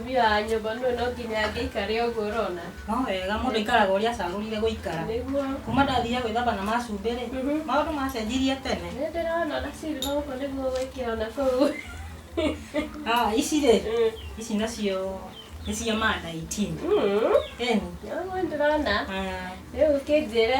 Mũtumia wa nyũmba nũũ no nginya angĩikare ũguo ũrona? No wega mũndũ aikaraga ũrĩa acagũrire gũikara. Nĩguo. Kuma ndathiire gwĩthamba na macumbĩ rĩ, Mhm. maũndũ macenjirie tene. Nĩ ndĩrona ona silver gũkũ nĩguo ũgwĩkĩra ona kũu. Ah, ici rĩ, Mm. ici nacio nĩ cia ma 19. Mm. Eni. Nĩguo nĩ ndĩrona. Ah, Rĩu kĩnjĩre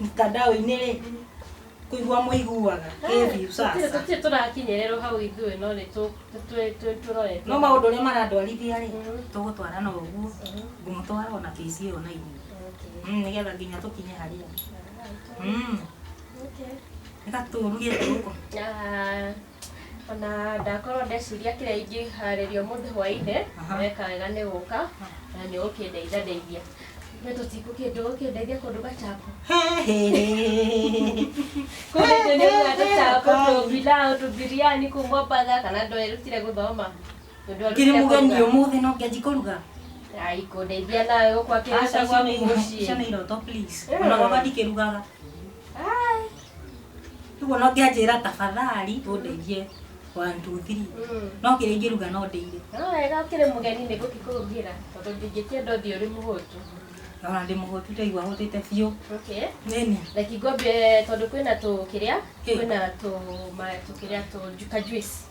mtandao-inĩ rĩ kũigua mũiguaga kĩbiũ sasa tũtirĩ tũrakinyĩrĩrwo hau ithuĩ no nĩ tũ- tũ- tũ- tũ- tũrorete no maũndũ ũrĩa marandwarithia rĩ tũgũtwara na ũguo ngũmũtwara ona bĩci ĩyo na igũrũ Okay. Mm, nĩgetha nginya tũkinye harĩa Mm, Okay. reka tũruge tũkũ Ah, Ona ndakorwo ndeciria kĩrĩa ingĩharĩria ũmũthĩ hwainĩ, weka wega nĩ gũka na nĩ ũgũkĩndeithia ndeithia. No ndũgũkĩndeithia kũnduga chapo? Kũu nĩkuo nĩrugaga tũchapo, tũbilau, tũbiriani kũu Mombatha kana ndũĩ ndũrutire gũthoma? Tondũ Kĩrĩ ndũrutire mũgeni kũruga. ũmũthĩ no ngĩanji kũruga. Ai, kũndeithia nawe gũkũ akĩruga Aca gwaku ciana mũciĩ. ciana iroto please. Ona gwakwa ndikĩrugaga. Rĩu ona ũngĩanjĩra tafadhali ũndeithie one two three no kĩrĩa ingĩruga no ndĩire No wega ũkĩrĩ mũgeni nĩ gũkĩkũrugira tondũ ndingĩkĩenda ũthiĩ ũrĩ mũhũtu. na ona ndĩ mũhũtu ndaigua hũtĩte biũ Okay. nĩni Reki ngwambie tondũ kwĩna tũ kĩrĩa Kĩ? kwĩna tũ ma tũ kĩrĩa tũ ju- ka juice.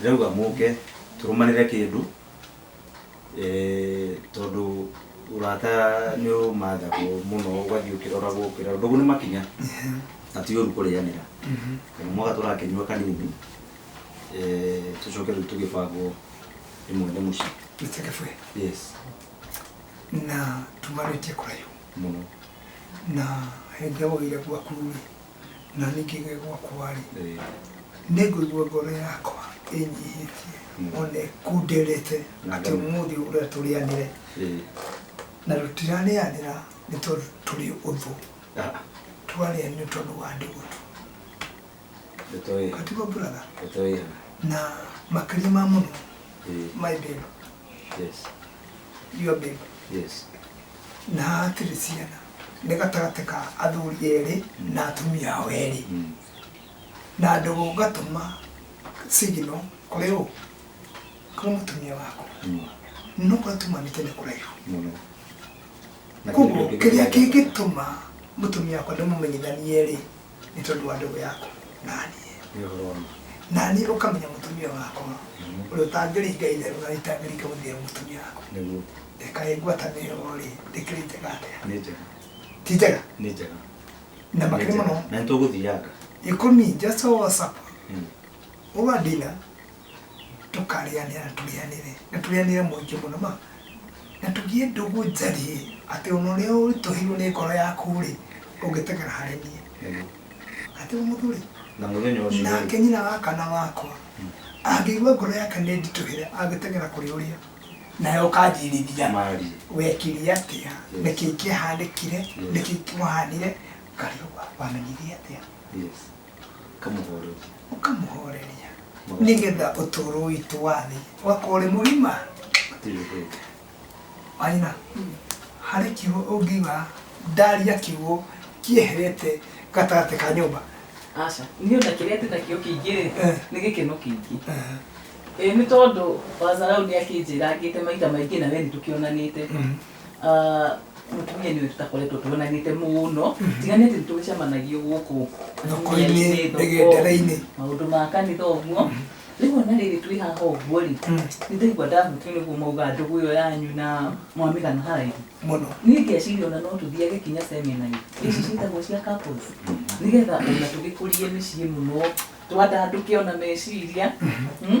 Ndĩrauga mũke tũrũmanĩre kĩndũ eh, tondũ ũrata nĩ ũmathagwo mũno ũgathiĩ ũkĩroragwo ũkĩroragwo ndũgũ nĩ makinya na ti ũru kũrĩanĩra kana mwaka tũrakĩnyua kanini eh, tũcoke rĩu tũgĩbangwo ĩmwe nĩ mũciĩ Mr. Kĩbwe, yes na tumarĩtie kũraihu mũno na hĩndĩ ũire gwaku na niĩ ngĩgĩe gwakwa-rĩ, nĩngũigua ngoro yakwa ĩnyihĩtie, ona ĩkunderete atĩ ũmũthĩ ũrĩa tũrĩanĩre, na tũtirarĩanĩra nĩ tondũ tũrĩ ũthũ, tũrarĩanĩra tondũ wa andũ ũthũ. Katiguo brother? Na makĩria ma mũno, my babe, your babe, Na hatirĩ ciana nĩ gatagatĩ ka athuri erĩ na atumia ao erĩ, na ndogo ngatũma signal kũrĩ ũ? Kũrĩ mũtumia waku. No kũrĩa tumanĩte nĩ kũraihu. Koguo kĩrĩa kĩngĩtũma mũtumia wakwa ndĩmũmenyithanie-rĩ, nĩ tondũ wa ndũgũ yaku naniĩ naniĩ ũkamenya mũtumia wakwa mm-hmm. ũrĩa ũtangĩringa itherũ na itangĩringa gũthĩa mũtumia wakwa reka ĩ ngwatanĩro rĩ ndĩkĩrĩte gatĩa ti njega na makĩrĩ mũno na nĩ tũgũthianga ikũmi just all supper mm. over dinner tũkarĩanĩra na tũrĩanĩre, na tũrĩanĩre mũingĩ mũno ma, na tũgĩe ndũgũ njariĩ, atĩ ona ũrĩa ũritũhĩirwo nĩ ngoro yaku-rĩ, ũngĩteng'era harĩ niĩ. Nĩguo. Atĩ o mũndũ rĩ, Na mũthenya ũcio-rĩ. nake nyina wa kana wakwa, angĩigua ngoro yake nĩ nditũhĩre, angĩteng'era kũrĩ ũrĩa, nawe ũkanjĩrithia, Mariĩ. wekire atĩa, Yes. nĩkĩĩ kĩahanĩkire, Yes. nĩkĩĩ kĩmũhanire, ngarigwo wamenyire atĩa. Yes. Ũkamũhoreria. ũkamũhoreria Mũgate. nĩgetha ũtũũro witũ wathĩ ũgakorwo ũrĩ mũgima Hatirĩ ũndũ ũngĩ. maina harĩ kiugo ũngiuga ndaria kiugo kieherete gatagatĩ ka nyũmba aca niĩ ona kĩrĩa ndĩ nakĩo kĩingĩ rĩ Eh. nĩ gĩkeno kĩingĩ Eh, ĩ nĩ tondũ wazarau nĩ akĩnjĩrangĩte maita maingĩ na we nĩ tũkĩonanĩte Mhm. Ah, mũtumia nĩ ũyũ tũtakoretwo tuonanĩte mũno tiga nĩ atĩ nĩ tũgĩcemanagio gũkũ Thoko-inĩ, Thoko-inĩ, thoko, mĩgendere-inĩ. maũndũ ma kanitha ũguo rĩu ona rĩrĩ twĩ haha ũguo rĩ nĩ ndaigua ndahutio nĩguo mauga ndũgũ ĩyo yanyu na mwamĩgana haraihu mũno niĩ ngeciria ona no tũthiage kinya seminary ici ciĩtagwo cia couples nĩgetha ona tũgĩkũrie mĩciĩ mũno twandandũke ona meciria mm,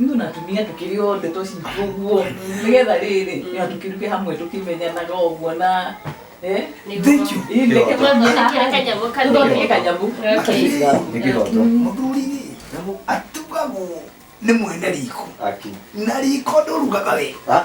Ithuĩ na atumia tũkĩrĩ othe tũcitwo ũguo nĩgetha rĩrĩ na tũkĩruge hamwe tũkĩmenyanaga ũguo na eh, Thank you. ĩ, ndeke Tũthondeke kanyamũ kanini. tũthondeke kanyamũ Nĩ kĩroto. Mũthuri atugagwo nĩ mwene riko. Aki. Na riko ndũrugaga we. Ah.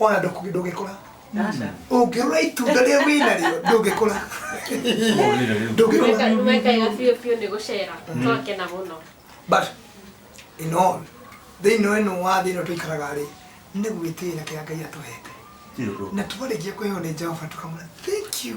ona ndũgĩkũra ũngĩrora itunda rĩa wĩna rĩo ndũngĩkũra ndũngĩkũra nĩwekaga biũ biũ nĩ gũcera mm. twakena mũno but in all thĩinĩ wa ĩno wa thĩ ĩno tũikaraga rĩ nĩ gwĩtĩĩra kĩrĩa ngai atũhete na twarĩkia kwĩho nĩ jehova tũkamwĩra thank you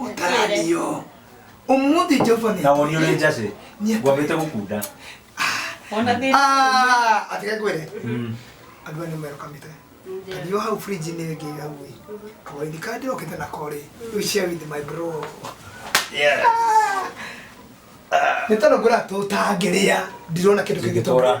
ũtaranio ũmũthĩ jehova nĩ nawe ũrĩa ũrĩ njacĩ ngwambĩte gũkunda Ona thĩna. Ah, atige kwĩre Mm. andũ aya nĩ merokamĩte tũthiũ hau fridge nĩ ngĩiga hau ĩ kawaidi kandi rokĩte na korĩ you share with my bro Yeah. nĩ tondũ ngũra tũtangĩrĩa ndirona kĩndũ kĩngĩtũra Ingĩtũra.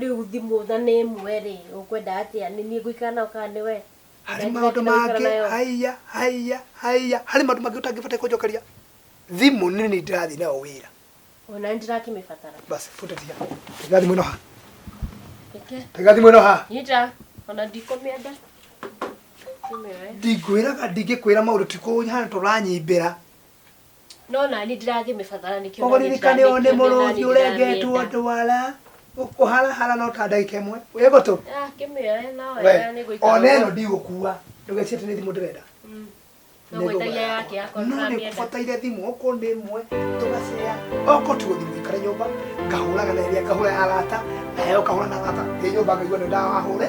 rĩu thimũ tha nĩ ĩmwe rĩ ũkwenda atĩa nĩ niĩ ngũikara nayo kana nĩ we harĩ maũndũ mangĩ haiya haiya haiya harĩ maũndũ mangĩ ũtangĩbataire kũnjokeria thimũ nĩ nĩ ndĩrathiĩ nayo wĩra ona nĩ ndĩrakĩmĩbatara basi bute tiga tiga thimũ ĩno ha reke tiga thimũ ĩno ha niĩ ndĩra ona ndikũmĩenda ndimĩoe ndingwĩraga ndingĩkwĩra maũndũ tikũhana tũranyimbĩra No nani ndĩragĩmĩbathara nĩkĩo Koguo nani ririkana ũyũ nĩ ndĩramĩkĩonera, mũrũthi nani ũrengetwo ndĩramĩenda. ndwara ũkũharahara no ta ndagĩka ĩmwe wĩ gũtũ Ah, kĩmĩoe no we wega nĩ gũikara ona ĩno ũguo. ndigũkua ndũgecirie atĩ nĩ thimũ ndĩrenda Mm. Nĩ No gwĩtagia thogora yake yakwa. akorwo no nĩ ndĩramĩenda. kũbataire thimũ okorwo nĩ ĩmwe tũgacea okorwo ti gũthimũ ikare nyũmba ngahũraga na ĩrĩa ngahũra ya arata nayo ngahũra na arata ĩ nyũmba ngaigua nĩ ndawahũre